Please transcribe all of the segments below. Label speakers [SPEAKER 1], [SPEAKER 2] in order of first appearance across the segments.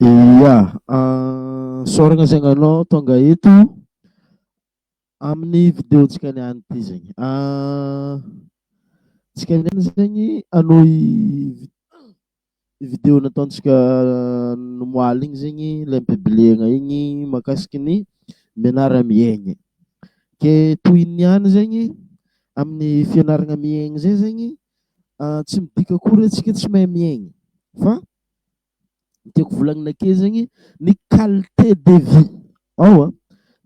[SPEAKER 1] Ia, isaorana saingy ianao tonga eto amin'ny videontsika niany ity zegny. Tsika niany zegny hanohy. Video nataontsika omaly igny zegny le am-pibiliagna igny mahakasiky ny mianara-miaigny. Ke toy ny ihany zegny amin'ny fianaragna miaigny zay zegny tsy midika akory hoe antsika tsy mahay miaigny fa ny tiako volagnina ake zegny ny qualité de vie ao an,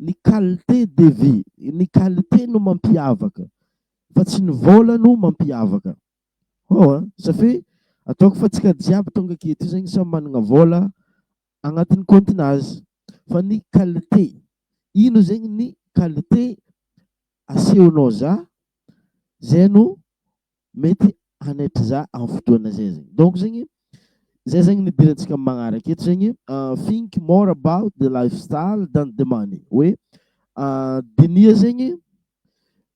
[SPEAKER 1] ny qualité de vie, ny qualité no mampiavaka fa tsy ny vôla no mampiavaka. Hoo a! Satria ataoko fa tsika jiaby tonga aky eto zegny samy managna vôla agnatin'ny kaontin'azy fa ny qualité ino zegny ny qualité asehonao za zay no mety hanaitra za am fotoagna zay zegny donc zegny zay zegny ny idirantsika magnaraka eto zegny think more about the lifestyle than the money hoe diniha zegny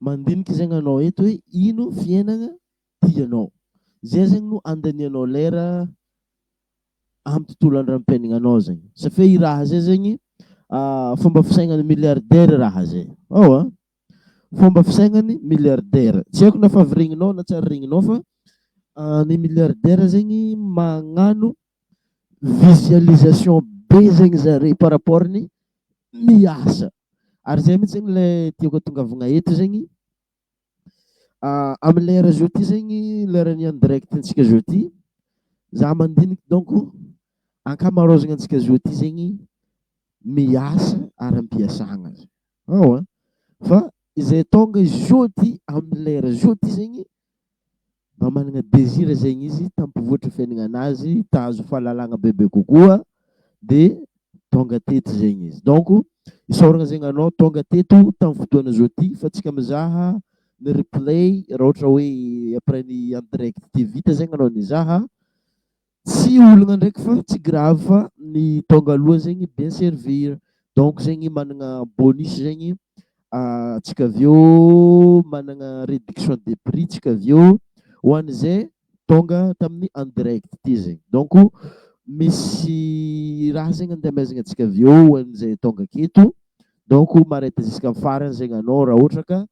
[SPEAKER 1] Mandinika zegny anao eto hoe ino fiainagna tianao. Zay zegny no andanianao lera amin'ny tontolo andram-piaignanao zegny. Satria i raha zay zegny fomba fisainan'ny milliardaire raha zay. Ao an! Fomba fisainany milliardaire. Tsy haiko na favy regninao na tsy ary regninao fa ny milliardaire zegny magnano visualisation be zegny zare par rapport ny miasa. Ary zay mitsy zegny le tiako atongavagna eto zegny amin'ny lera zao ty zegny lera ny en direct antsika zao ty za mandiniky donc ankamarozagnantsika zao ty zegny miasa ara-piasagna. Ao an! Fa izay tonga jeudi amin'ny lera jeudi zegny mba managna désir zegny izy tampivoatra fiaignanazy, hitazo fahalalagna bebe kokoa de tonga teto zegny izy. Donc isaoragna zegny anao tonga teto tamin'ny fotoana jeudi fa tsika mizaha ny replay raha ohatra hoe après ny en direct vita zegny anao nizaha. Tsy olagna ndraiky fa tsy grave fa ny tonga aloha zegny bien servir donc zegny managna bonus zegny antsika avy eo managna réduction de prix tsika avy eo ho an'izay tonga tamin'ny en direct ty zegny donc misy raha zegny andehamezagna antsika avy eo ho an'izay tonga aketo donc ma-rate jusqu'à farany zegny anao raha ohatra ka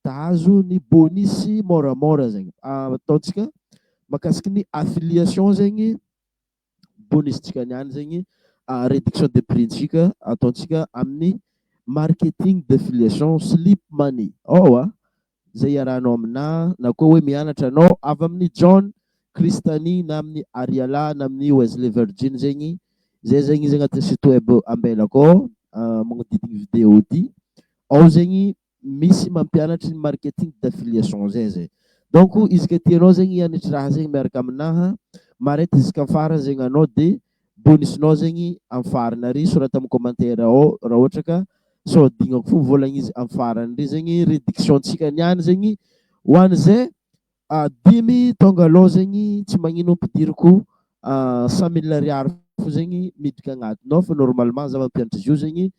[SPEAKER 1] Dahazo ny bonus môramôra zegny ataontsika makasiky ny affiliation zegny bonus tsika niany zegny réduction de prix ntsika ataontsika aminy marketing d'affiliation slip money ao a zay iarahanao amina na koa hoe mianatra anao avy aminy John Christany na aminy Ariala na aminy Wesley Virgin zegny zay zegny izy agnatiny site web ambela akao magnodidigny video ty ao zegny misy mampianatry ny marketing d'affiliation zay zay donc izy ka tianao zegny hianatry raha zegny miaraka aminaha mareto jusqu'en farany zegny anao de bonus nao zegny am farany ary sorata am commentaire ao raha ohatra ka sao adignako fo volagna izy am farany re zegny réduction tsika niany zegny ho an'izay A dimy tonga alou zegny tsy magnino ampidiriko a cent mille ariary fo zegny midika agnatiny ao fa normalement za mampianatra izy io zegny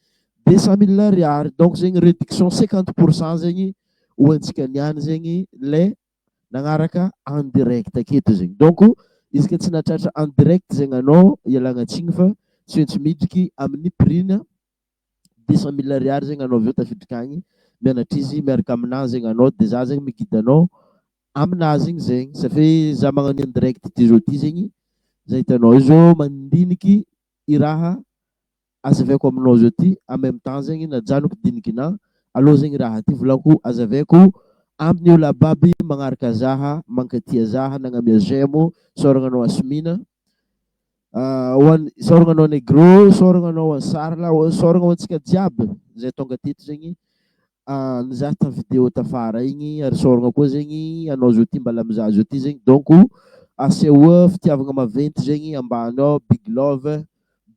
[SPEAKER 1] deux cent mille ariary donc zegny reduction cinquante pour cent zegny ho antsika niany zegny le nagnaraka en direct aketo zegny donc izy ka tsy nahatratra en direct zegny anao ialagna tsigny fa tsy maintsy miditry amin'ny prix-na deux cent mille ariary zegny anao avy eo tafiditra agny mianatra izy miaraka aminahy zegny anao de za zegny mi-guide anao aminahy zegny zegny satria za magnano io en direct ty zao ty zegny za hitanao io zao mandiniky i raha azavaiko aminao zao ty en même temps zegny najanoko dinikinà allo zegny raha ty volako azavaiko amin'ny olo ababy magnaraka zaha mankatia zaha nagnamia j'aime o saoragna anao asmina Ho an saoragna anao Negro, saoragna anao Ansarla, saoragna ho antsika jiaby zay tonga teto zegny nizaha ta vidéo tafara igny ary saoragna koa zegny anao zao ty mbala mizaha zao ty zegny donc asehoa fitiavagna maventy zegny ambany ao big love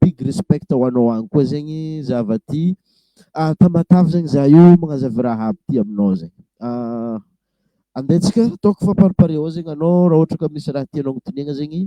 [SPEAKER 1] big respect ho anao agny koa zegny za va ty Tamatave zegny za io magnazavy raha aby ty aminao zegny andeha tsika ataoko fa par pare ao zegny anao raha ohatra ka misy raha tianao agnotiniagna zegny.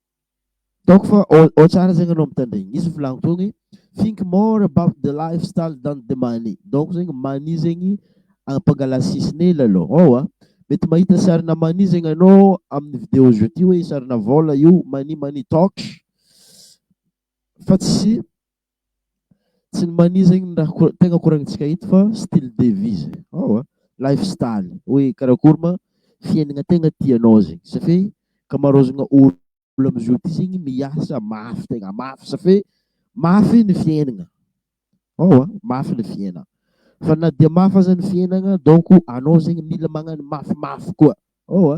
[SPEAKER 1] Ataoko fa ao ao tsara zegny anao mitandregny. Misy ny volagny teo hoe think more about the lifestyle than the money. Donc zegny money zegny ampangala sisiny hely alou ao a. Mety mahita sarina money zegny anao amin'ny video zao ty hoe sarina vôla io money money talks fa tsy Tsy ny mania zegny ny raha ko- tegna koragnintsika eto fa style de vie zay ao a, life style hoe karakory ma fiaignana tegna tianao zegny ça fait ankamaroazagna olo olo am'zao ty zegny miasa mafy tegna mafy ça fait mafy ny fiaignana ao a, mafy ny fiainana fa na dia mafy aza ny fiainana donc anao zegny mila magnano mafimafy koa ao a.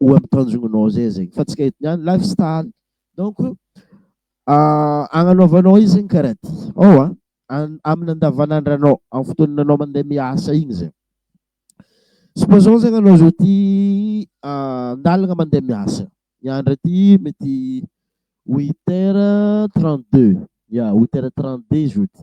[SPEAKER 1] ho amin'ny tanjognonao zay zegny fa tsy ka eto niany life style donc agnanaovanao izy zegny karaha ty ao a amin'ny andavanandranao amin'ny fotoana anao mandeha miasa igny zegny supposons zegny anao zao ty andalagna mandeha miasa ny andra ty mety huit heures trente deux ya huit heures trente deux zao ty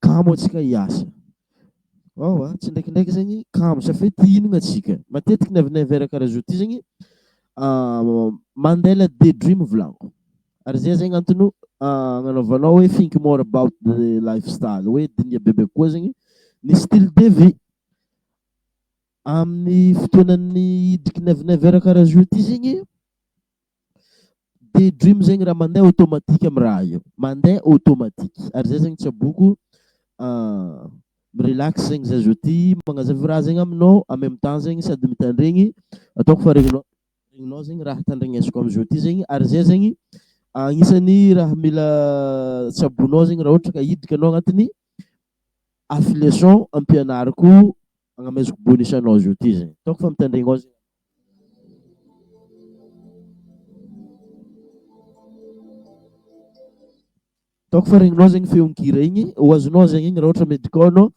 [SPEAKER 1] Kamo antsika hiasa. Ao a, tsindraikindraiky zegny kamo safidy hihinagna antsika. Matetiky ny avy ny verre karaha zao ty zegny Mandela day dream volagniko. Ary zay zegny antony agnanaovanao hoe think more about the life style, hoe diniha bebe kokoa zegny ny style de vie. Amin'ny fotoanan'ny hidriky ny avy ny verre karaha zao ty zegny. Day dream zegny raha mandeha automatique amin'ny raha io, mandeha automatique ary zay zegny tsaboiko mi-relax zegny zah zao ty magnazava raha zegny aminao en même temps zegny sady mitandregny ataoko fa regninao regninao zegny raha tandregnesiko am'zao ty zegny ary zay zegny agnisan'ny raha mila tsaboinao zegny raha ohatra ka hiditra anao agnatin'ny affiliation ampianariko. Agna mais ko bonus anao zio ty zay. Ataoko fa mitandregny ao zay. Ataoko fa regninao zegny feon-kira igny, ho azonao zegny igny raha ohatra mety koa anao.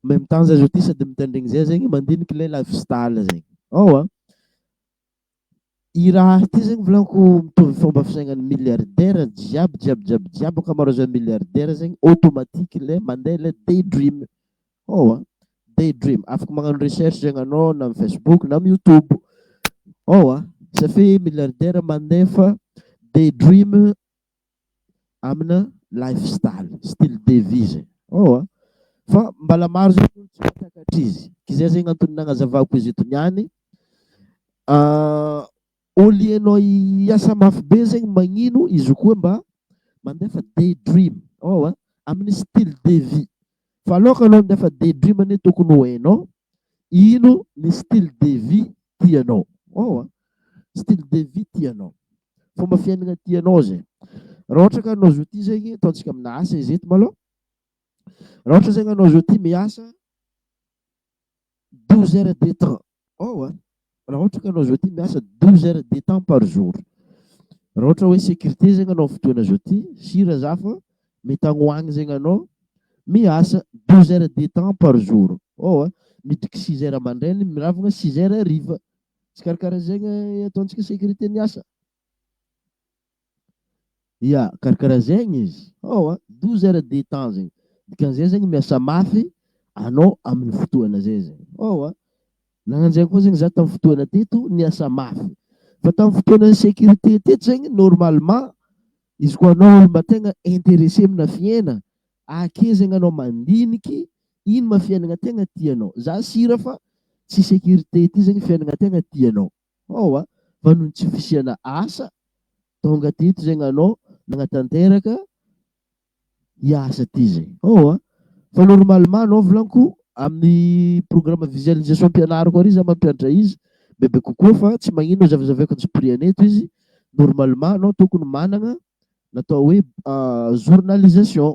[SPEAKER 1] Même temps zay zao ty sady mitandregny zay zegny mandiniky le la fistale zegny. Ao a. I Raha ity zegny volagniko mitovy fomba fisainan'ny milliardaire jiaby jiaby jiaby jiaby ankamaroazan'ny milliardaire zegny automatique le mande le day dream ewa day dream afaka magnano recherche zegny anao na amin'ny facebook na amin'ny youtube ewa satria milliardaire mandefa day dream amina life style, style de vie zay oh a! fa mbala maro zay ny olo tsy mahatakatra izy ke zay zegny antony nagnazavako izy eto niany au lieu nao hiasa mafy be zegny magnino izy koa mba mandefa day dream oh a! aminy style de vie fa aloka nao handefa day dream anie tokony ho hainao Ino ny style de vie tianao? Waouh a! Style de vie tianao, fomba fiainana tianao izay. Raha ohatra ka anao zao ity zegny, ataontsika amina asa izy eto malôha. Raha ohatra zegny anao zao ity miasa douze heures de temps, waouh a! Raha ohatra ka anao zoti miasa douze heures de temps par jour, raha ohatra hoe sécurité zegny anao fotoana zoti, sira za fa mety agny ho agny zegny anao miasa douze heures de temps par jour ô a, miditry six heures amandraigny miravogna six heures hariva, tsy karakara zegny ataontsika sécurité ny asa. Ya, karakaraha zegny izy. Ao a, douze heures de temps zegny. Dikan'izay zegny miasa mafy anao amin'ny fotoana zay zegny. Ao a, nagnanjay koa zegny za tamin'ny fotoana teto niasa mafy. Fa tamin'ny fotoana sécurité teto zegny normalement izy koa anao olo mba tegna intéressé amina fiaina, ake zegny anao mandiniky ino ma fiainagna tegna tianao. Za sira fa tsy sécurité ty zegny fiainagna tegna tianao. Hao a! fa noho ny tsy fisiana asa tonga teto izay nanao nagnatanteraka hiasa aty izay. Hao a! fa normalement nao vilanko amin'ny programme visualisation ampianariko ary za mampiadra izy bebe kokoa fa tsy magnino hozavazavaiko ny spri-any eto izy normalement nao tokony managna natao hoe journalisation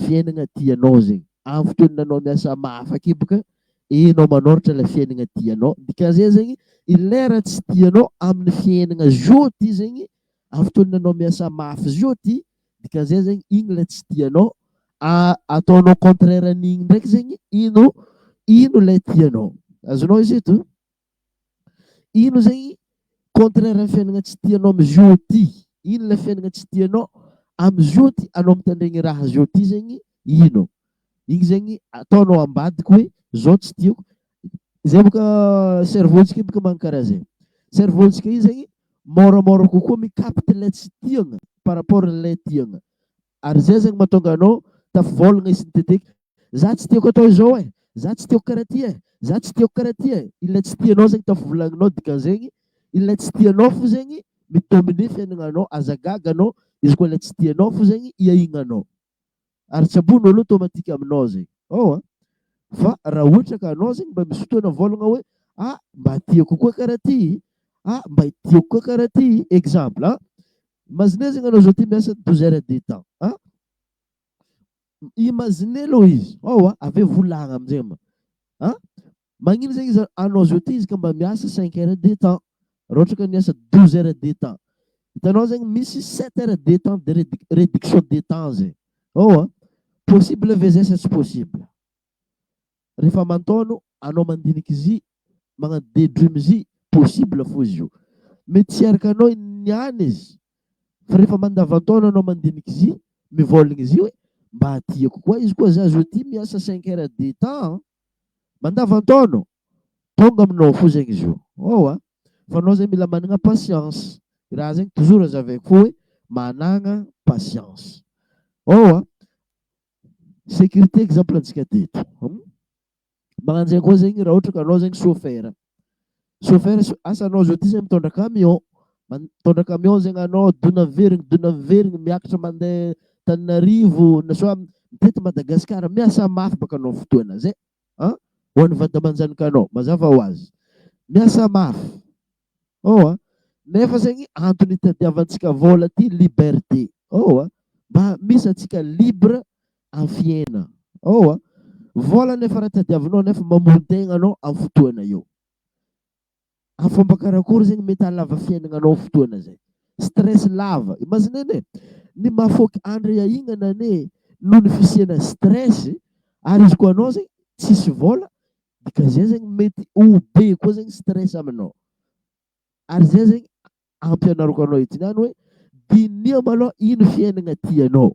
[SPEAKER 1] Fiainagna tianao zegny. Avy teo nanao miasa mahafake boka enao manoratra le fiainagna tianao. Dikan'izay zegny i lera tsy tianao amin'ny fiainagna zio ty zegny avy teo nanao miasa mafy zio ty dikan'izay zegny igny le tsy tianao ataonao contraire an'igny ndraiky zegny ino ino le tianao. Azonao izy eto? Ino izay contraire ny fiainana tsy tianao amin' izio ity? Ino ilay fiainana tsy tianao amin' izio ity? Anao mitandregny ny raha zio ity zegny ino? Igny zegny ataonao ambadika hoe zao tsy tiako. Izay bôka cerveau-ntsika io bôka magnano karaha zay. Cerveau-ntsika io zegny môramôra kokoa mi-capte ilay tsy tiagna par rapport an'ilay tiagna. Ary zay zany matonga anao tafivolagna e sinteteky za tsy tiako atao izao e za tsy tiako karaha ty e za tsy tiako karaha ty e ilay tsy tianao zegny tafivolagninao dikanzegny ilay tsy tianao fo zegny mi domine fiainagnanao aza gaga anao izy koa ilay tsy tianao fo zegny iahignanao ary tsy ambony olo automatique aminao zegny ao a fa raha ohatra ka anao zegny mba misy fotoana volagna hoe ah mba tiako koa karaha ty ah mba tiako koa karaha ty exemple a Imaginez zany anao zao ty miasa douze heures de temps a! Imaginez aloha izy ao a! Avy eo volagna amizay mba a! Magnino zegny izy anao zao ty izy ka mba miasa cinq heures de temps raha ohatra ka miasa douze heures de temps. Hitanao zegny misy sept heures de temps de réduc- réduction de temps zay. Ao a! Possible ve zay sa tsy possible? refa mantôno anao mandinika izy magnano day dream izy possible fô izy io mety tsy araka anao niany izy fa refa mandavantaona anao mandinika izy mivôlagna izy hoe mba tiako koa izy koa za zo ty miasa cinq heures de temps mandavantaona tonga aminao fô zegny izy io ôwa fa anao zegny mila managna patience i raha zegny toujours aza aveko fô hoe managna patience ôwa Sécurité exemple antsika teto. Magnano zegny koa zegny raha ohatra ka anao zegny chauffeur. Chauffeur so- asa anao zao ty zegny mitondra camion. Man- Mitondra camion zegny anao dona miverigny dona miverigny miakatra mandeha Tananarivo na soit mitety Madagasikara miasa mafy baka anao fotoana zay an! ho an'ny vady aman-janikanao mazava ho azy. Miasa mafy. Oh a! Nefa zegny antony itadiavantsika vôla ty liberté. Oh a! Mba misy antsika libre am fiaina. Oh a! Vôla nefa raha tadiavinao nefa mamoan-tegna anao am fotoana io. Am fomba karakory zegny mety ahalava fiainagnanao fotoana zay. Stress lava. Imagine anie, ny mahafaoky andre iahignana anie noho ny fisiana stress ary izy koa anao zegny tsisy vôla Dia ka zay zegny mety ho be koa zegny stress aminao. Ary zay zegny ampianariko anao ity niany hoe diniho malôha ino fiaignana tianao.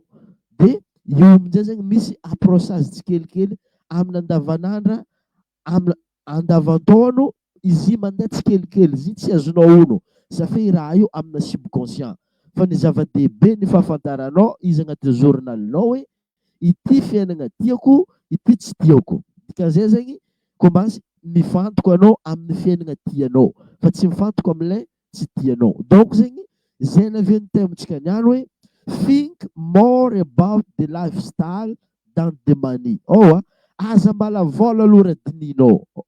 [SPEAKER 1] Dia eo amin'izay zegny misy approchage tsikelikely amin'ny andavanandra, amin'ny andavan-taona izy mandeha tsikelikely izy tsy azonao ono safia i raha io amina subconscient. Fa ny zava-dehibe ny fahafantaranao izy agnatin'ny journal-nao hoe Ity fiainagna tiako ity tsy tiako. Dikan'izay zegny Combasy mifantoka anao amin'ny fiainagna tianao fa tsy mifantoka amin'ilay tsy tianao. Donc zegny zay lavian'ny thème-ntsika niany hoe think more about the lifestyle than the money. Ôo a! Aza mbalavôla aloha raha dinihinao.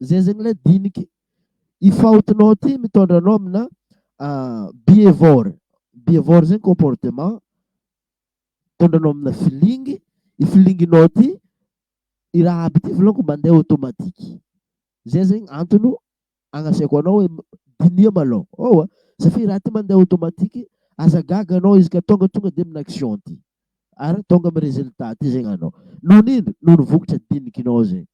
[SPEAKER 1] Zay zegny lay diniky i faotinao ty mitondra anao amina behavior, behavior zegny comportement mitondra anao amina feeling, i feelingnao ty i raha aby ty volagniko mandeha automatique, zay zegny antony agnasiako anao hoe diniho malôha, ewa satria ty raha ty mandeha automatique aza gaga anao izy ka tonga tonga dia amina action ty ary tonga amina résultat ty zegny anao, noho ino noho ny vokatra dinikinao zay.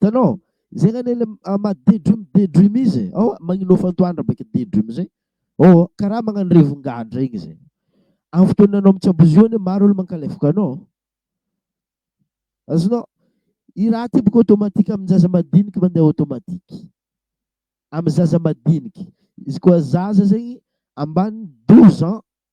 [SPEAKER 1] Hitanao? Izay ngah ilay maha daydream daydream izy e. Ao, magninofa antoandra baika daydream izay. Ao, karaha magnano revin-gadra igny izay. Amin'ny fotoana anao mitsabozio anie maro olo mankalefoka anao. Azonao? I raha ty boka automatique amin'ny zaza madiniky mandeha automatique. Amin'ny zaza madiniky. Izy koa zaza zegny ambany 12 ans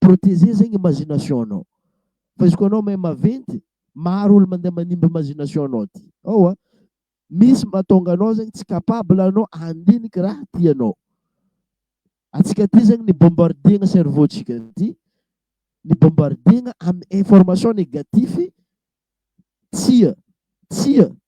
[SPEAKER 1] Proteger zegny imagination anao. Fa izy koa anao mahay maventy, maro olo mandeha manimba imagination anao ty. Ao a. Misy mahatonga anao zegny tsy capable anao handiniky raha tianao. Antsika ty zegny ny bombardier-na cerveau tsika ty, ny bombardier-na amin'ny information negatif, tsia, tsia,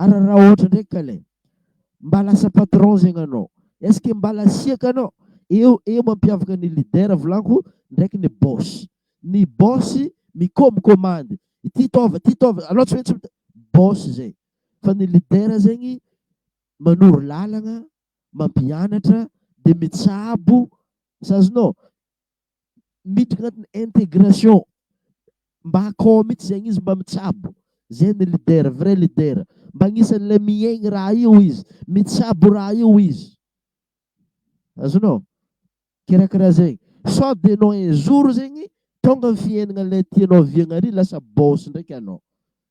[SPEAKER 1] Ary raha ohatra ndraiky ka le mba lasa patron zegny anao, est-ce que mba lasiaka anao? Eo eo mampiavaka ny leader volanko ndraiky ny boss. Ny boss mikomokomandy, ity taova, ty taova, anao tsy maintsy mi-, boss zay. Fa ny leader zegny manoro lalagna, mampianatra, de mitsabo, sazinao? miditra anatin'ny intégration mba akao mihitsy zegny izy mba mitsabo zay ny leader vrai leader mba agnisan'ilay miaigny raha io izy mitsabo raha io izy azonao kirakira zegny sao de anao un jour zegny tonga ny fiaignana ilay tianao viagna ary lasa boss ndraiky anao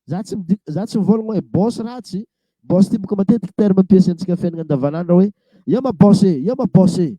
[SPEAKER 1] za tsy midi- za tsy mivôlagna hoe boss ratsy boss ty boka matetiky terme ampiasaintsika fiaignana andavanandro hoe eo ma boss e eo ma boss e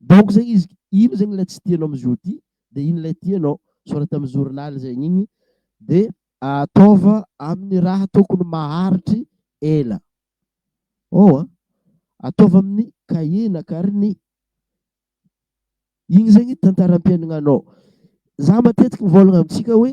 [SPEAKER 1] Donc zegny izy ino zegny ilay tsy tianao amin'izao ty dia ino ilay tianao, sorata amin'ny journal zegny igny dia ataova amin'ny raha tokony maharitry ela oh an! ataova amin'ny cahier na carnet igny zegny tantaram-piaignanao, za matetiky mivôlagna amintsika hoe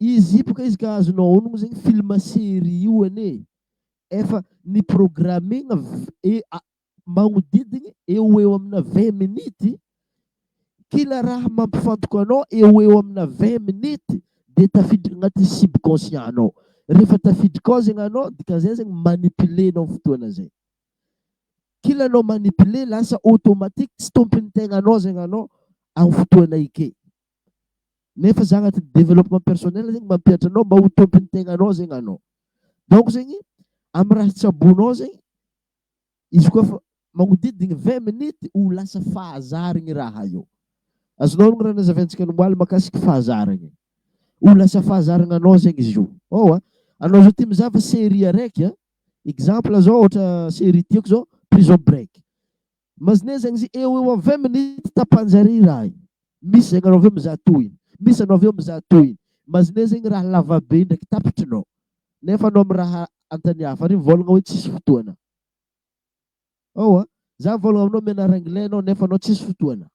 [SPEAKER 1] Izy io boka izy ka azonao aonogno zegny film serie io anie e! efa ni programmegna magnodidigny eo ho eo amina vingt minute, kila raha mampifantoka anao eo ho eo amina vingt minute de tafiditra agnaty subconscient anao, rehefa tafiditra ao zegny anao dikan'izay zegny manipuler anao fotoagna zay, kila anao manipuler lasa automatique tsy tômpon'ny tegnanao zegny anao amin'ny fotoagna eke. nefa za agnatin'ny développement personnel zegny mampihatra anao mba ho tompon'ny tegnanao zegny anao. Donc zegny amin'ny raha tsaboinao zegny izy koa fa magnodidigny vingt minutes ho lasa fahazaragny raha io. Azonao ny raha nazavaintsika omaly makasika fahazaragna e. Ho lasa fahazaragna anao zegny izy io. Ôo a! Anao zao ty mizava série araiky a, exemple zao ohatra série tiako zao prison break. Mazneh zegny izy eo eo am vingt minutes tapanjare i raha i. Misy zegny anao avy eo mizaha tohiny, misy anao avy eo mizaha tohiny. Mazneh zegny raha lava be ndraiky tapitrinao nefa anao miraha antany hafa ary mivôlagna hoe tsisy fotoana. Ewa, za mivôlagna aminao mianara anglais anao nefa anao tsisy fotoana.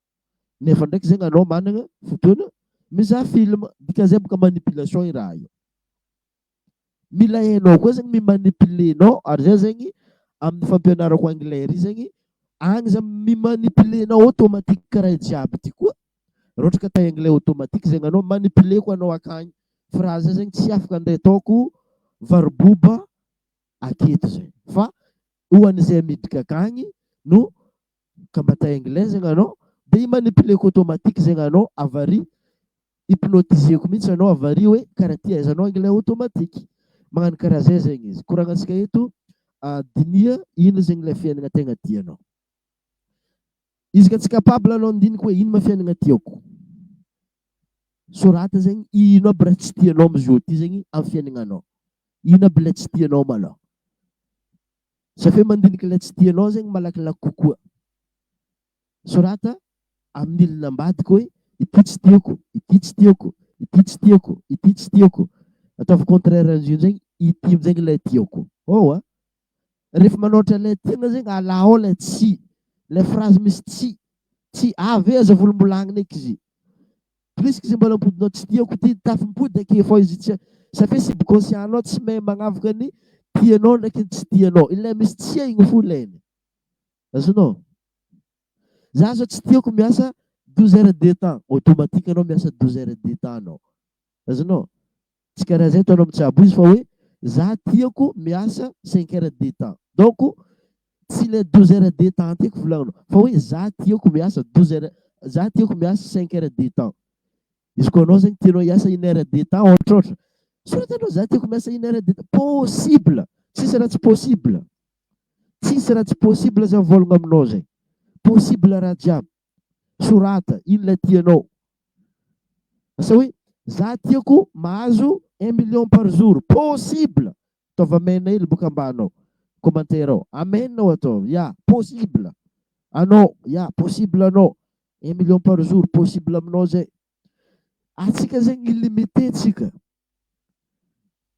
[SPEAKER 1] Nefa ndraiky zegny anao managna fotoana mizaha film. Dikan'izay bôka manipulation i raha io. Mila hainao koa zegny mi-manipuler nao ary zah zegny amin'ny fampianarako anglais ry zegny agny zah mi-manipuler nao automatique karaha io jiaby ty koa raha ohatra ka tay anglais automatique zegny anao manipuler ko anao akagny fa raha zah zegny tsy afaka ndray ataoko varoboba aketo zay fa ho an'izay miditra akagny no combattant anglais zegny anao de i manipuleko automatique zegny anao avary hypnotiseko mihitsy anao avary hoe karaha ty ahaizanao anglais automatique magnano karaha zay zegny izy koragnantsika eto ah, dinia ino zegny ilay fiainana tegna tianao izy ka tsy capable anao ndiniko hoe ino ma fiainana tiako sorata zegny ino aby raha tsy tianao amizao ty zegny amin'ny fiainagnanao ino aby ilay tsy tianao malao Zafeo mandinika ilay tsy tianao zegny malakilaky kokoa. Sorata amin'ny milina ambadika hoe ity tsy tiako, ity tsy tiako, ity tsy tiako, ity tsy tiako. Ataovy contraire an'izay amin'izay, ity amin'izay ilay tiako. Hao a! Rehefa manaotra ilay tiana zegny alà ao ilay tsy, ilay phrase misy tsy, tsy, avy aza volombolagninay kzy. Prisky izay mbola ampodinao tsy tiako ity ny tafy mipody akefao izy tsy ça fait si bgosianao tsy mahay magnavoka ny tianao ndraiky ny tsy tianao ilay misy tsia igny fo ilainy azonao za zao tsy tiako miasa 12 heures de temps automatique anao miasa 12 heures de temps anao azonao Tsy karaha zay ataonao mitsabo izy fa hoe za tiako miasa cinq heures de temps donc tsy le douze heures de temps tiako volagnina fa hoe za tiako miasa douze heures za tiako miasa cinq heures de temps izy koa anao zegny tianao hiasa une heure de temps ôhatrôhatra soratanao za tiako miasa une heure de temps possible tsisy raha tsy possible tsisy raha tsy possible zany vôlagna aminao zay possible raha jiaby Sorata inona tianao. Asa hoe za tiako mahazo un million par jour. Possible! Ataovy amen hely boka ambany ao. Commentaire ao. Amen ao ataovy. Ya, possible! Anao. Ya, possible anao. Un million par jour. Possible aminao zay. Atsika zegny illimité tsika.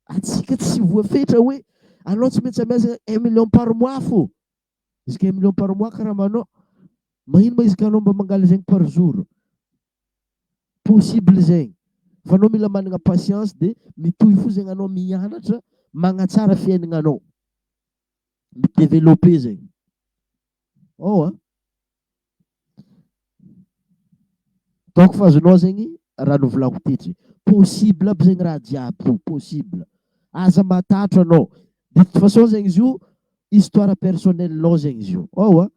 [SPEAKER 1] Atsika tsy voafetra hoe anao tsy maintsy miasa un million par mois fô. Izy kay million par mois karaha manao Magnino ma izy ka anao mba mangala zegny par jour? Possible zegny fa anao mila managna patience de mitohy fo zegny anao mianatra magnatsara fiainagnanao mi-developper zegny ao a. Donc fa azonao zegny raha novolako tetry possible aby zegny raha jiaby io possible aza matatro anao de toute façon zegny izy io histoire personnelle nao zegny izy io ao a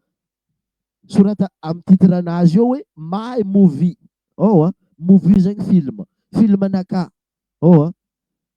[SPEAKER 1] sorata amy titre anazy eo hoe my movie ao a movie zegny film film anakah ao a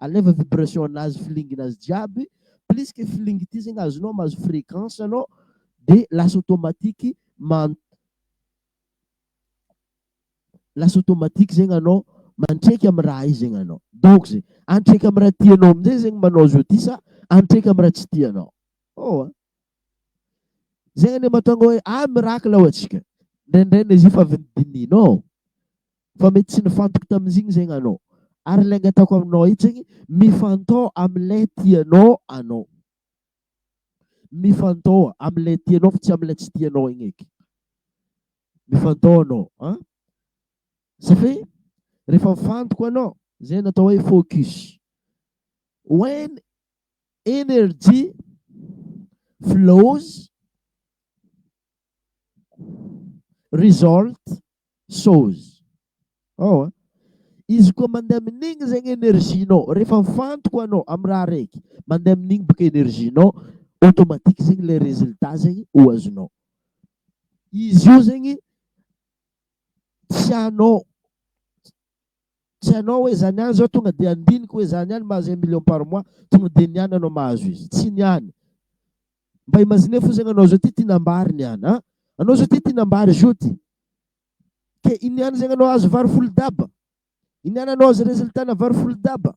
[SPEAKER 1] Alaivo vibration anazy flingina azy jiaby plus que flingy ity zegny azonao mahazo fréquence anao de lasa automatique man- lasa automatique zegny anao mantraiky amy raha io zegny anao donc zegny antraiky amy raha tianao amizay zegny manao zao ty sa antraiky amy raha tsy tianao oh a zegny anie mahatonga hoe ah miracle hoy atsika ndraindray na izy io fa avy nodinihinao Fa mety tsy nifantoky tamin'izy igny zegny anao. Ary le angataoko aminao eto zegny, mifantoha am'le tianao anao. Mifantoha am'le tianao fa tsy am'le tsy tianao igny eky. Mifantoha anao an! Satria rehefa mifantoko anao, zay ny atao hoe focus. When energy flows, result shows ao a izy koa mandeha amin'igny zegny énergie-nao rehefa mifantoka anao amy raha araiky mandeha amin'igny boka énergie-nao automatique zegny le résultat zegny ho azonao izy io zegny tianao Tsy anao hoe zany ihany zao tonga dia andiniko hoe zany ihany mahazo un million par mois tonga dia ny any anao mahazo izy tsy ny any mba imagine fosagna anao zao ty tiana ambary ny any an anao zao ty tiana ambary zao ty ke iny any zegny anao azo vary folo daba iny any anao azo resultat na vary folo daba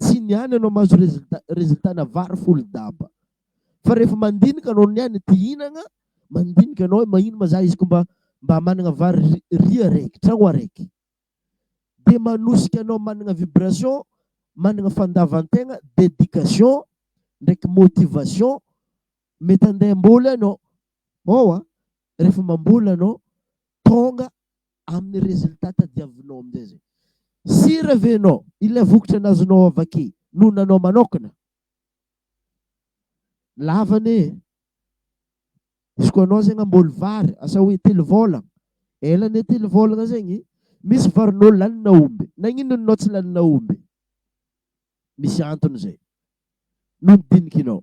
[SPEAKER 1] Tsy ny any ianao mahazo resulta, resultana vary folo daba. Fa rehefa mandinika anao ny any te hinagna, mandinika anao hoe mahino ma za izy ko mba mba managna vary ri, riz araiky, tragno araiky. Dia manosika anao managna vibration, managna fandavantegna, dedication, ndraiky motivation, mety handeha hamboly ianao. Mahoa? Rehefa mamboly ianao, tonga, amin'ny résultat tadiavinao amin'izay izay. Sy revenant, ilay vokatra nazonao avy aky no nanao manaokana. Lava anie e! Izy koa anao zegny hamboly vary, asa hoe telo vôlagna, ela anie telo vôlagna zegny, misy varinao lanina omby, nagnino ny nao tsy lanina omby? Misy antony izay, nodinikinao.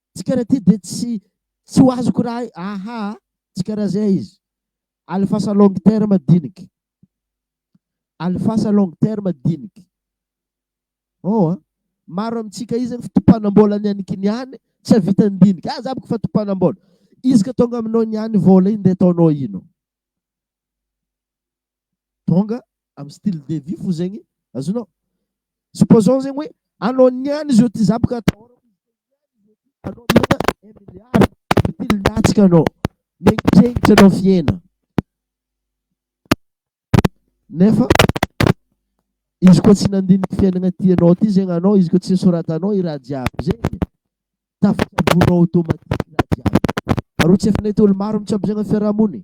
[SPEAKER 1] Tsy karaha ty de tsy tsy ho azoko raha hay aha a! tsy karaha zay izy. Alifasa long terme diniky. Alifasa long terme diniky. Hoo a! maro amintsika izany fitopanam-bola ny any kiniany tsy havitan'ny diniky aza aby fa topanam-bola. Izy ka tonga aminao ny any vola iny de ataonao ino? Tonga am style de vie fo zegny azonao. Supposons zegny hoe anao niany izy ôty za boka atahôrako anao miala un milliard mitily latsaka anao miengitrengitry anao fiaina nefa izy koa tsy nandinika fiainagna ty anao ty zegny anao izy koa tsy soratanao i raha jiaby zegny tafatsabonao automatique raha jiaby ary tsy efa nety olo maro mitsabo zegny fiarahamony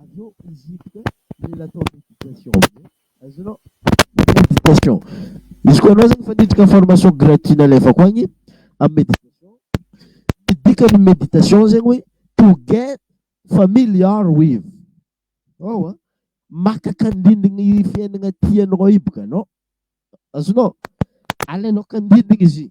[SPEAKER 1] Avy eo izy hiditra mila atao méditation zay, azonao? Méditation, izy koa anao zany efa niditra formation gratuit nalefako agny amin'ny méditation, ny dikan'ny méditation zegny hoe to get familiar with, ao an, maka kandindigna i fiainagna ty anao i boka anao, azonao? Alainao kandindigna izy.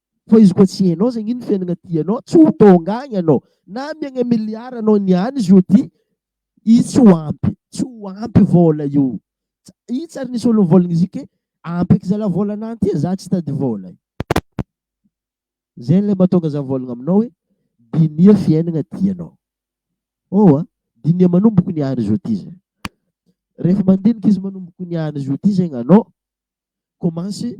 [SPEAKER 1] Fa izy koa tsy hainao zegny ino fiainagna tianao tsy ho tônga agny anao na amiagna milliard anao niany izy io ty izy tsy ho ampy tsy ho ampy vôla io io tsy ary nisy olo nivôlagna izy io ke ampy eky zalah vôla anah ty e zah tsy tady vôla e zegny le mahatônga zah mivôlagna aminao hoe dinia fiainagna tianao oh a dinia manomboko niany izy io ty zah refa mandiniky izy manomboko niany izy io ty zegny anao kômansy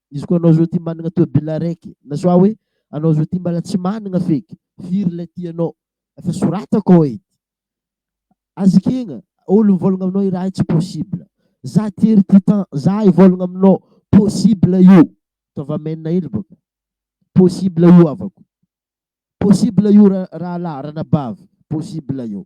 [SPEAKER 1] Izy koa anao zao ty managna tôbila araiky na soit hoe anao zao ty mbala tsy managna feky firy lay tianao efa soratako ao edy aza ekegna olo mivôlagna aminao i raha io tsy possible za ty ery ty temps za hivôlagna aminao possible io ataova main hely bôka possible io havako possible io ra rahalahy ranabavy possible io.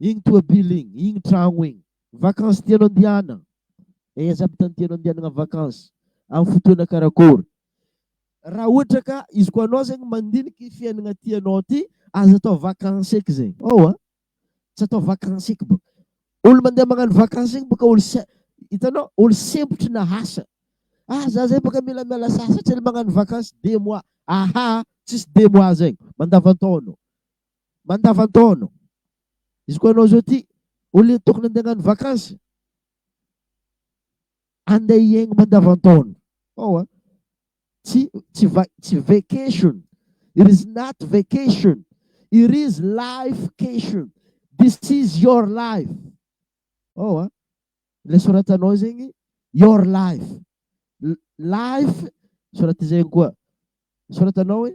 [SPEAKER 1] Igny toabily igny, igny tragno igny. Vacances tianao andihanagna? Aiza aby tany tianao andihanagna vacances? Amin'ny fotoana karakôry? Raha ohatra ka izy koa anao zegny mandiniky i fiainagna ty anao ty, aza atao vacances eky zegny. Ao a! Tsy atao vacances eky bôka. Olo mandeha magnano vacances egny bôka olo sa- hitanao? Olo sempotry na asa. Ah za zay bôka mila miala sasatra ela magnano vacances, deux mois. Ahaa! Tsisy deux mois zegny, mandavan-taona ô. mandavan-taona. Izy koa ianao izao ity olona tokony handeha hagnano vakansy, handeha hiainga mandavan-taona. Ao an! Tsy, tsy, va, tsy vacation. It is not vacation. It is lifecation. This is your life. Ao an! Ilay soratanao zegny, your life. L, life, soraty zegny koa. Soratanao hoe,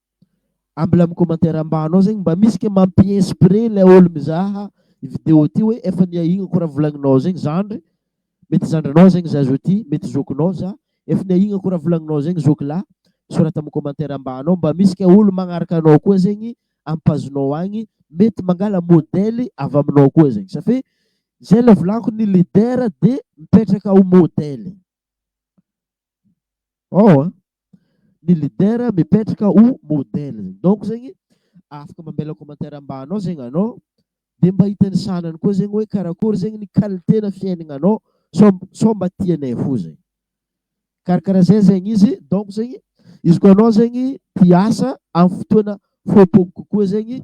[SPEAKER 1] Ambila mi-commentaire ambanao zegny mba misy ke mampi inspire ilay olo mizaha i video ty hoe efa niahignako raha volagninao zegny zandry mety zandrinao zegny za zao ty mety zokinao za efa niahignako raha volagninao zegny zokilahy sorata am commentaire ambanao mba misy ke olo magnaraka anao koa zegny am page nao agny mety mangala modely avy aminao koa zegny safe zay le volagniky ny leader de mipetraka ho modely. Ao an! Ny leader mipetraka ho modèle zegny. Donc zegny afaka mamela commentaire ambany ao zegny anao dia mba hita ny sahanany koa zegny hoe karakory zegny ny qualité-na fiainagnanao sao sao mba tianay fo zay. Karakaraha zay zegny izy. Donc zegny izy koa anao zegny te hiasa amin'ny fotoana fohipoky kokoa zegny,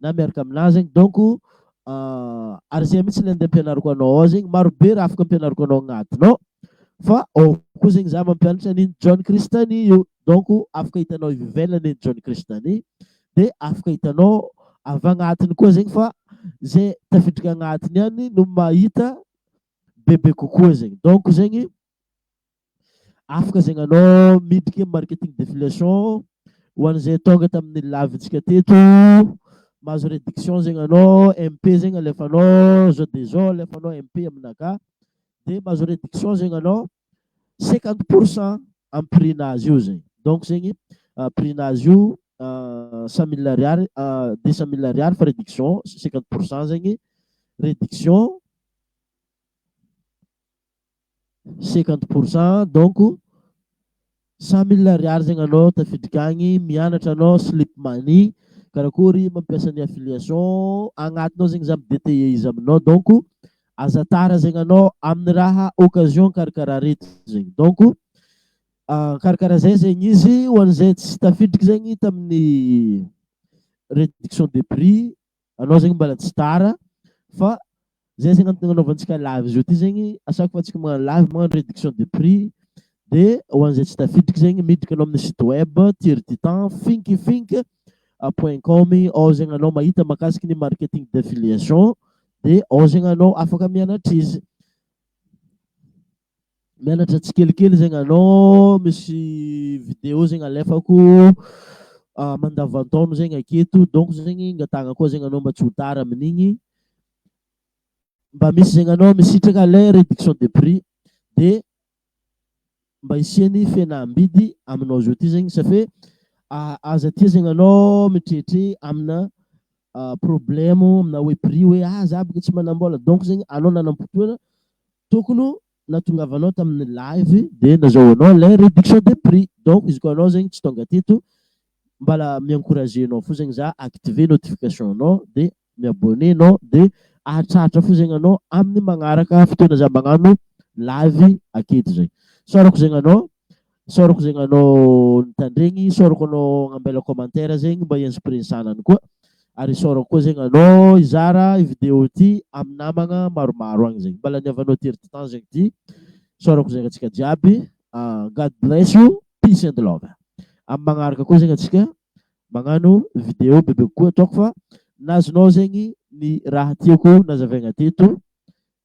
[SPEAKER 1] na miaraka aminà zegny donc ary zay mihitsy le andeha ampianariko anao ao zegny maro be raha afaka ampianariko anao agnatiny ao fa ao koa zegny za mampianatra ny John Christian io donc afaka hitanao avy ivelany ny John Christian de afaka hitanao avy agnatiny koa zegny fa zay tafiditra agnatiny ihany no mahita bebe kokoa zegny donc zegny Afaka zegny anao miditry ny marketing d'affiliation ho an'izay tonga tamin'ny live-ntsika teto, mahazo réduction zegny anao, MP zegny alefanao, zao de zao alefanao MP aminakà, de mahazo réduction zegny anao cinquante pour cent amin'ny prix-nazy io zegny. Donc zegny ah, prix-nazy io ah, cent mille ariary, ah, deux cent mille ariary fa réduction cinquante pour cent zegny, réduction cinquante pour cent donc cent mille ariary zegny anao tafiditra agny mianatra anao slip money karakory mampiasa ny affiliation agnatinao zegny za mi-detailler izy aminao donc aza tara zegny anao amin'ny raha occasion karakaraha reto zegny donc karakaraha zay zegny izy ho an'izay tsy tafiditry zegny tamin'ny réduction de prix Anao zegny mbala tsy tara fa zay zegny antony agnanaovantsika live zao ty zegny à chaque fois tsika magnano live magnano réduction de prix de ho an'izay tsy tafiditry zegny miditra anao amin'ny site web tirtitan finkifink point com ao zegny anao mahita makasiky ny marketing d'affiliation de ao zegny anao afaka mianatra izy. Mianatra tsikelikely zegny anao, misy video zegny alefako ah, mandavantaona zegny aketo, donc zegny angatahagna koa zegny anao mba tsy ho tara amin'igny. Mba misy zegny anao misitraka lay réduction de prix dia mba hisian'ny fihenam-bidy aminao zao ty zegny safe ah, aza aty zegny anao mitrehitre amina ah, problème amina hoe prix hoe ah za bôka tsy manam-bôla donc zegny anao nanam-potoana Tokony ho natongavanao tamin'ny live dia nazahoanao ilay réduction de prix. Donc izy koa anao zegny tsy tonga teto mbala mi-encourager anao fo zegny za activer notification nao dia mi-abonner nao dia ahatratra fo zegny anao amin'ny magnaraka fotoana za magnano live aketo zay. Saorako zegny anao. Isaorako zegny anao nitandregny, isaorako anao nagnambela commentaire zegny mba hi-inspirer ny zanany koa. Ary isaorako koa zegny anao hizara i vidéo ty amin'ny namagna maromaro agny zegny. Mba laniavanao tery ty temps zegny ty. Isaorako zegny antsika jiaby. God bless you, peace and love. Amin'ny magnaraka koa zegny antsika magnano vidéo bebe kokoa ataoko fa nazonao zegny ny raha tiako nazavaigna teto.